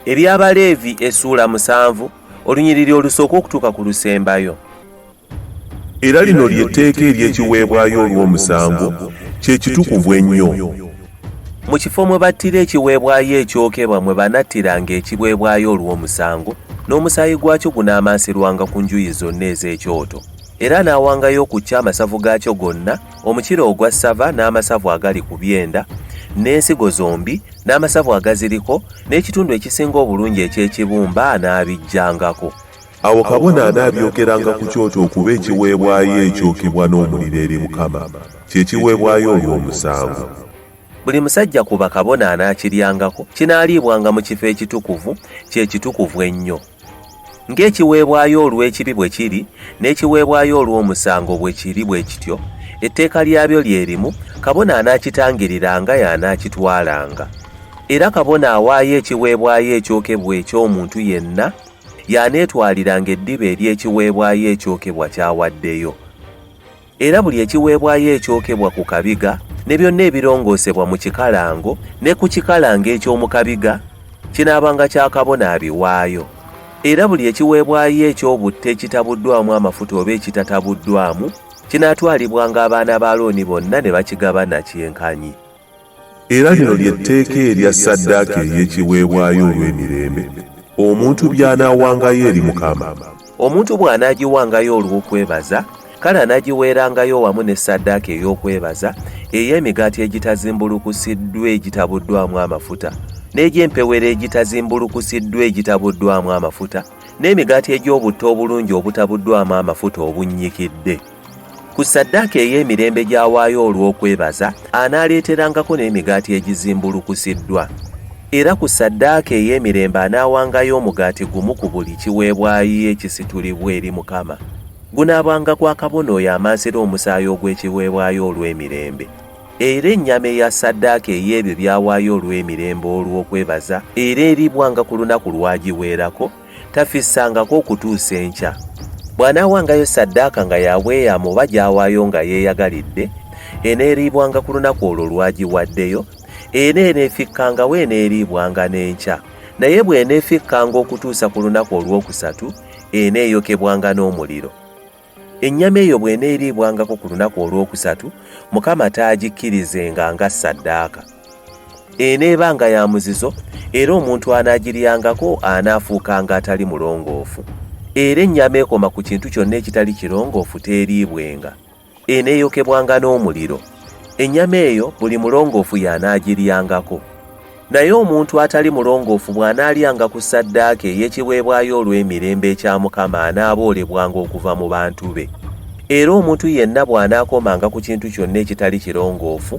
eby'abaleevi essuula musanvu olunyiriri olusooka okutuuka ku lusembayo era lino ly'etteeka ery'ekiweebwayo olw'omusango kye kitukuvu ennyo mu kifo mwe battira ekiweebwayo ekyokebwa mwe banattiranga ekiweebwayo olw'omusango n'omusaayi gwakyo gunaamansirwanga ku njuyi zonna ez'ekyoto era n'awangayo okukya amasavu gaakyo gonna, omukira ogwa ssava n'amasavu agali ku byenda, n'ensigo zombi, n'amasavu agaziriko, n'ekitundu ekisinga obulungi eky'ekibumba anaabiggyangako. Awo kabona anaabyokeranga ku kyoto okuba ekiweebwayo ekyokebwa n'omuliro eri Mukama, kye kiweebwayo olw'omusango. Buli musajja ku bakabona anaakiryangako, kinaaliibwanga mu kifo ekitukuvu, kye kitukuvu ennyo. Ng'ekiweebwayo olw'ekibi bwe kiri, n'ekiweebwayo olw'omusango bwe kiri bwe kityo, etteeka lyabyo lye limu, kabona anaakitangiriranga y'anaakitwalanga. Era kabona awaayo ekiweebwayo ekyokebwa eky'omuntu yenna y'aneetwaliranga eddiba ery'ekiweebwayo ekyokebwa ky'awaddeyo. Era buli ekiweebwayo ekyokebwa ku kabiga ne byonna ebirongoosebwa mu kikalango ne ku kikalango eky'omu kabiga kinaabanga kya kabona abiwaayo. Era buli ekiweebwayo eky'obutta ekitabuddwamu amafuta oba ekitatabuddwamu kinaatwalibwanga abaana ba Alooni bonna ne bakigabana kyenkanyi. Era lino lye tteeka erya ssaddaaka ey'ekiweebwayo olw'emirembe, omuntu by'anaawangayo eri Mukama. Omuntu bw'anaagiwangayo olw'okwebaza, kale anaagiweerangayo wamu ne ssaddaaka ey'okwebaza ey'emigaati egitazimbulukusiddwa egitabuddwamu amafuta, n'egy'empewero egitazimbulukusiddwa egitabuddwamu amafuta, n'emigaati egy'obutto obulungi obutabuddwamu amafuta obunnyikidde. Ku ssaddaaka ey'emirembe gy'awaayo olw'okwebaza, anaaleeterangako n'emigaati egizimbulukusiddwa. Era ku ssaddaaka ey'emirembe anaawangayo omugaati gumu ku buli kiweebwayo ekisitulibwa eri Mukama. Gunaabanga gwa kabona oyo amansira omusaayi ogw'ekiweebwayo olw'emirembe. Era ennyama eya ssaddaaka ey'ebyo by'awaayo olw'emirembe olw'okwebaza era eriibwanga ku lunaku lw'agiweerako, tafissangako okutuusa enkya bw'anaawangayo saddaaka nga yabweyamu oba gy'awaayo nga yeeyagalidde eneeriibwanga ku lunaku olwo lwagiwaddeyo era eneefikkangawo eneeriibwanga n'enkya naye bw'eneefikkanga okutuusa ku lunaku olwokusatu eneeyokebwanga n'omuliro Ennyama eyo bw'eneeriibwangako ku lunaku olwokusatu, Mukama taagikkirizenga nga ssaddaaka. Eneebanga ya muzizo, era omuntu anaagiryangako anaafuukanga atali mulongoofu. Era ennyama ekoma ku kintu kyonna ekitali kirongoofu teeriibwenga. Eneeyokebwanga n'omuliro. Ennyama eyo buli mulongoofu y'anaagiryangako. Naye omuntu atali mulongoofu bw'anaalyanga ku ssaddaaka ey'ekiweebwayo olw'emirembe ekya Mukama anaaboolebwanga okuva mu bantu be. Era omuntu yenna bw'anaakomanga ku kintu kyonna ekitali kirongoofu,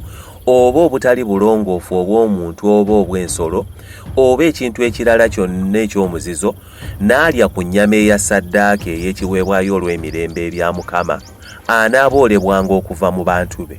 oba obutali bulongoofu obw'omuntu oba obw'ensolo, oba ekintu ekirala kyonna eky'omuzizo, n'alya ku nnyama eya ssaddaaka ey'ekiweebwayo olw'emirembe erya Mukama, anaaboolebwanga okuva mu bantu be.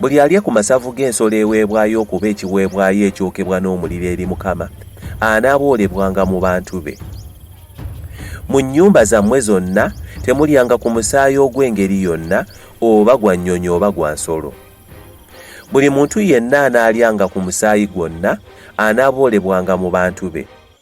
Buli alya ku masavu g'ensolo eweebwayo okuba ekiweebwayo ekyokebwa n'omuliro eri Mukama, anaaboolebwanga mu bantu be. Mu nnyumba zammwe zonna temulyanga ku musaayi ogw'engeri yonna, oba gwa nnyonyi oba gwa nsolo. Buli muntu yenna anaalyanga ku musaayi gwonna, anaaboolebwanga mu bantu be.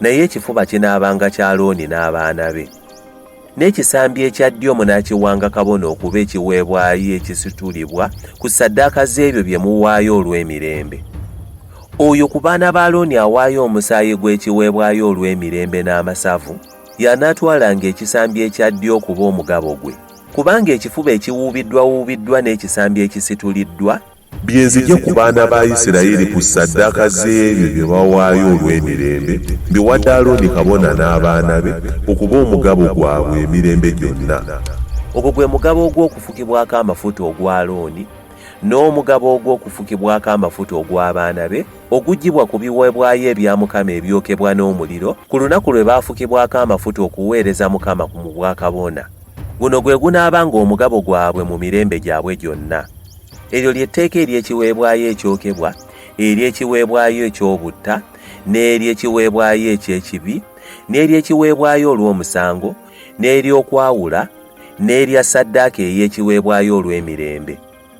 naye ekifuba kinaabanga kya Alooni n'abaana be. N'ekisambi ekya ddyo munaakiwanga kabona okuba ekiweebwayo ekisitulibwa ku ssaddaaka z'ebyo bye muwaayo olw'emirembe. Oyo ku baana ba Alooni awaayo omusaayi gw'ekiweebwayo olw'emirembe n'amasavu, y'anaatwalanga ekisambi ekya ddyo okuba omugabo gwe, kubanga ekifuba ekiwuubiddwawuubiddwa n'ekisambi ekisituliddwa Bye nzigye ku baana ba Isirayiri ku ssaddaaka z'ebyo bye bawaayo olw'emirembe, mbiwadde Alooni kabona n'abaana be okuba omugabo gwabwe emirembe gyonna. Ogwo gwe mugabo ogw'okufukibwako amafuta ogwa Alooni, n'omugabo ogw'okufukibwako amafuta ogw'abaana be, oguggyibwa ku biweebwayo ebya Mukama ebyokebwa n'omuliro, ku lunaku lwe baafukibwako amafuta okuweereza Mukama mu bwakabona. Guno gwe gunaabanga omugabo gwabwe mu mirembe gyabwe gyonna. Eryo lye tteeka ery'ekiweebwayo ekyokebwa, ery'ekiweebwayo eky'obutta, n'ery'ekiweebwayo eky'ekibi, n'ery'ekiweebwayo olw'omusango, n'ery'okwawula, n'erya ssaddaaka ey'ekiweebwayo olw'emirembe.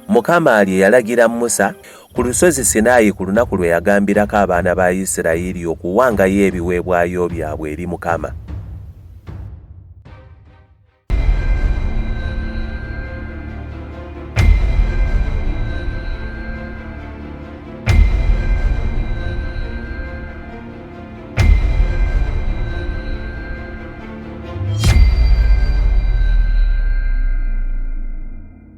Mukama lye yalagira Musa ku lusozi Sinaayi ku lunaku lwe yagambirako abaana ba Isirayiri okuwangayo ebiweebwayo byabwe eri Mukama.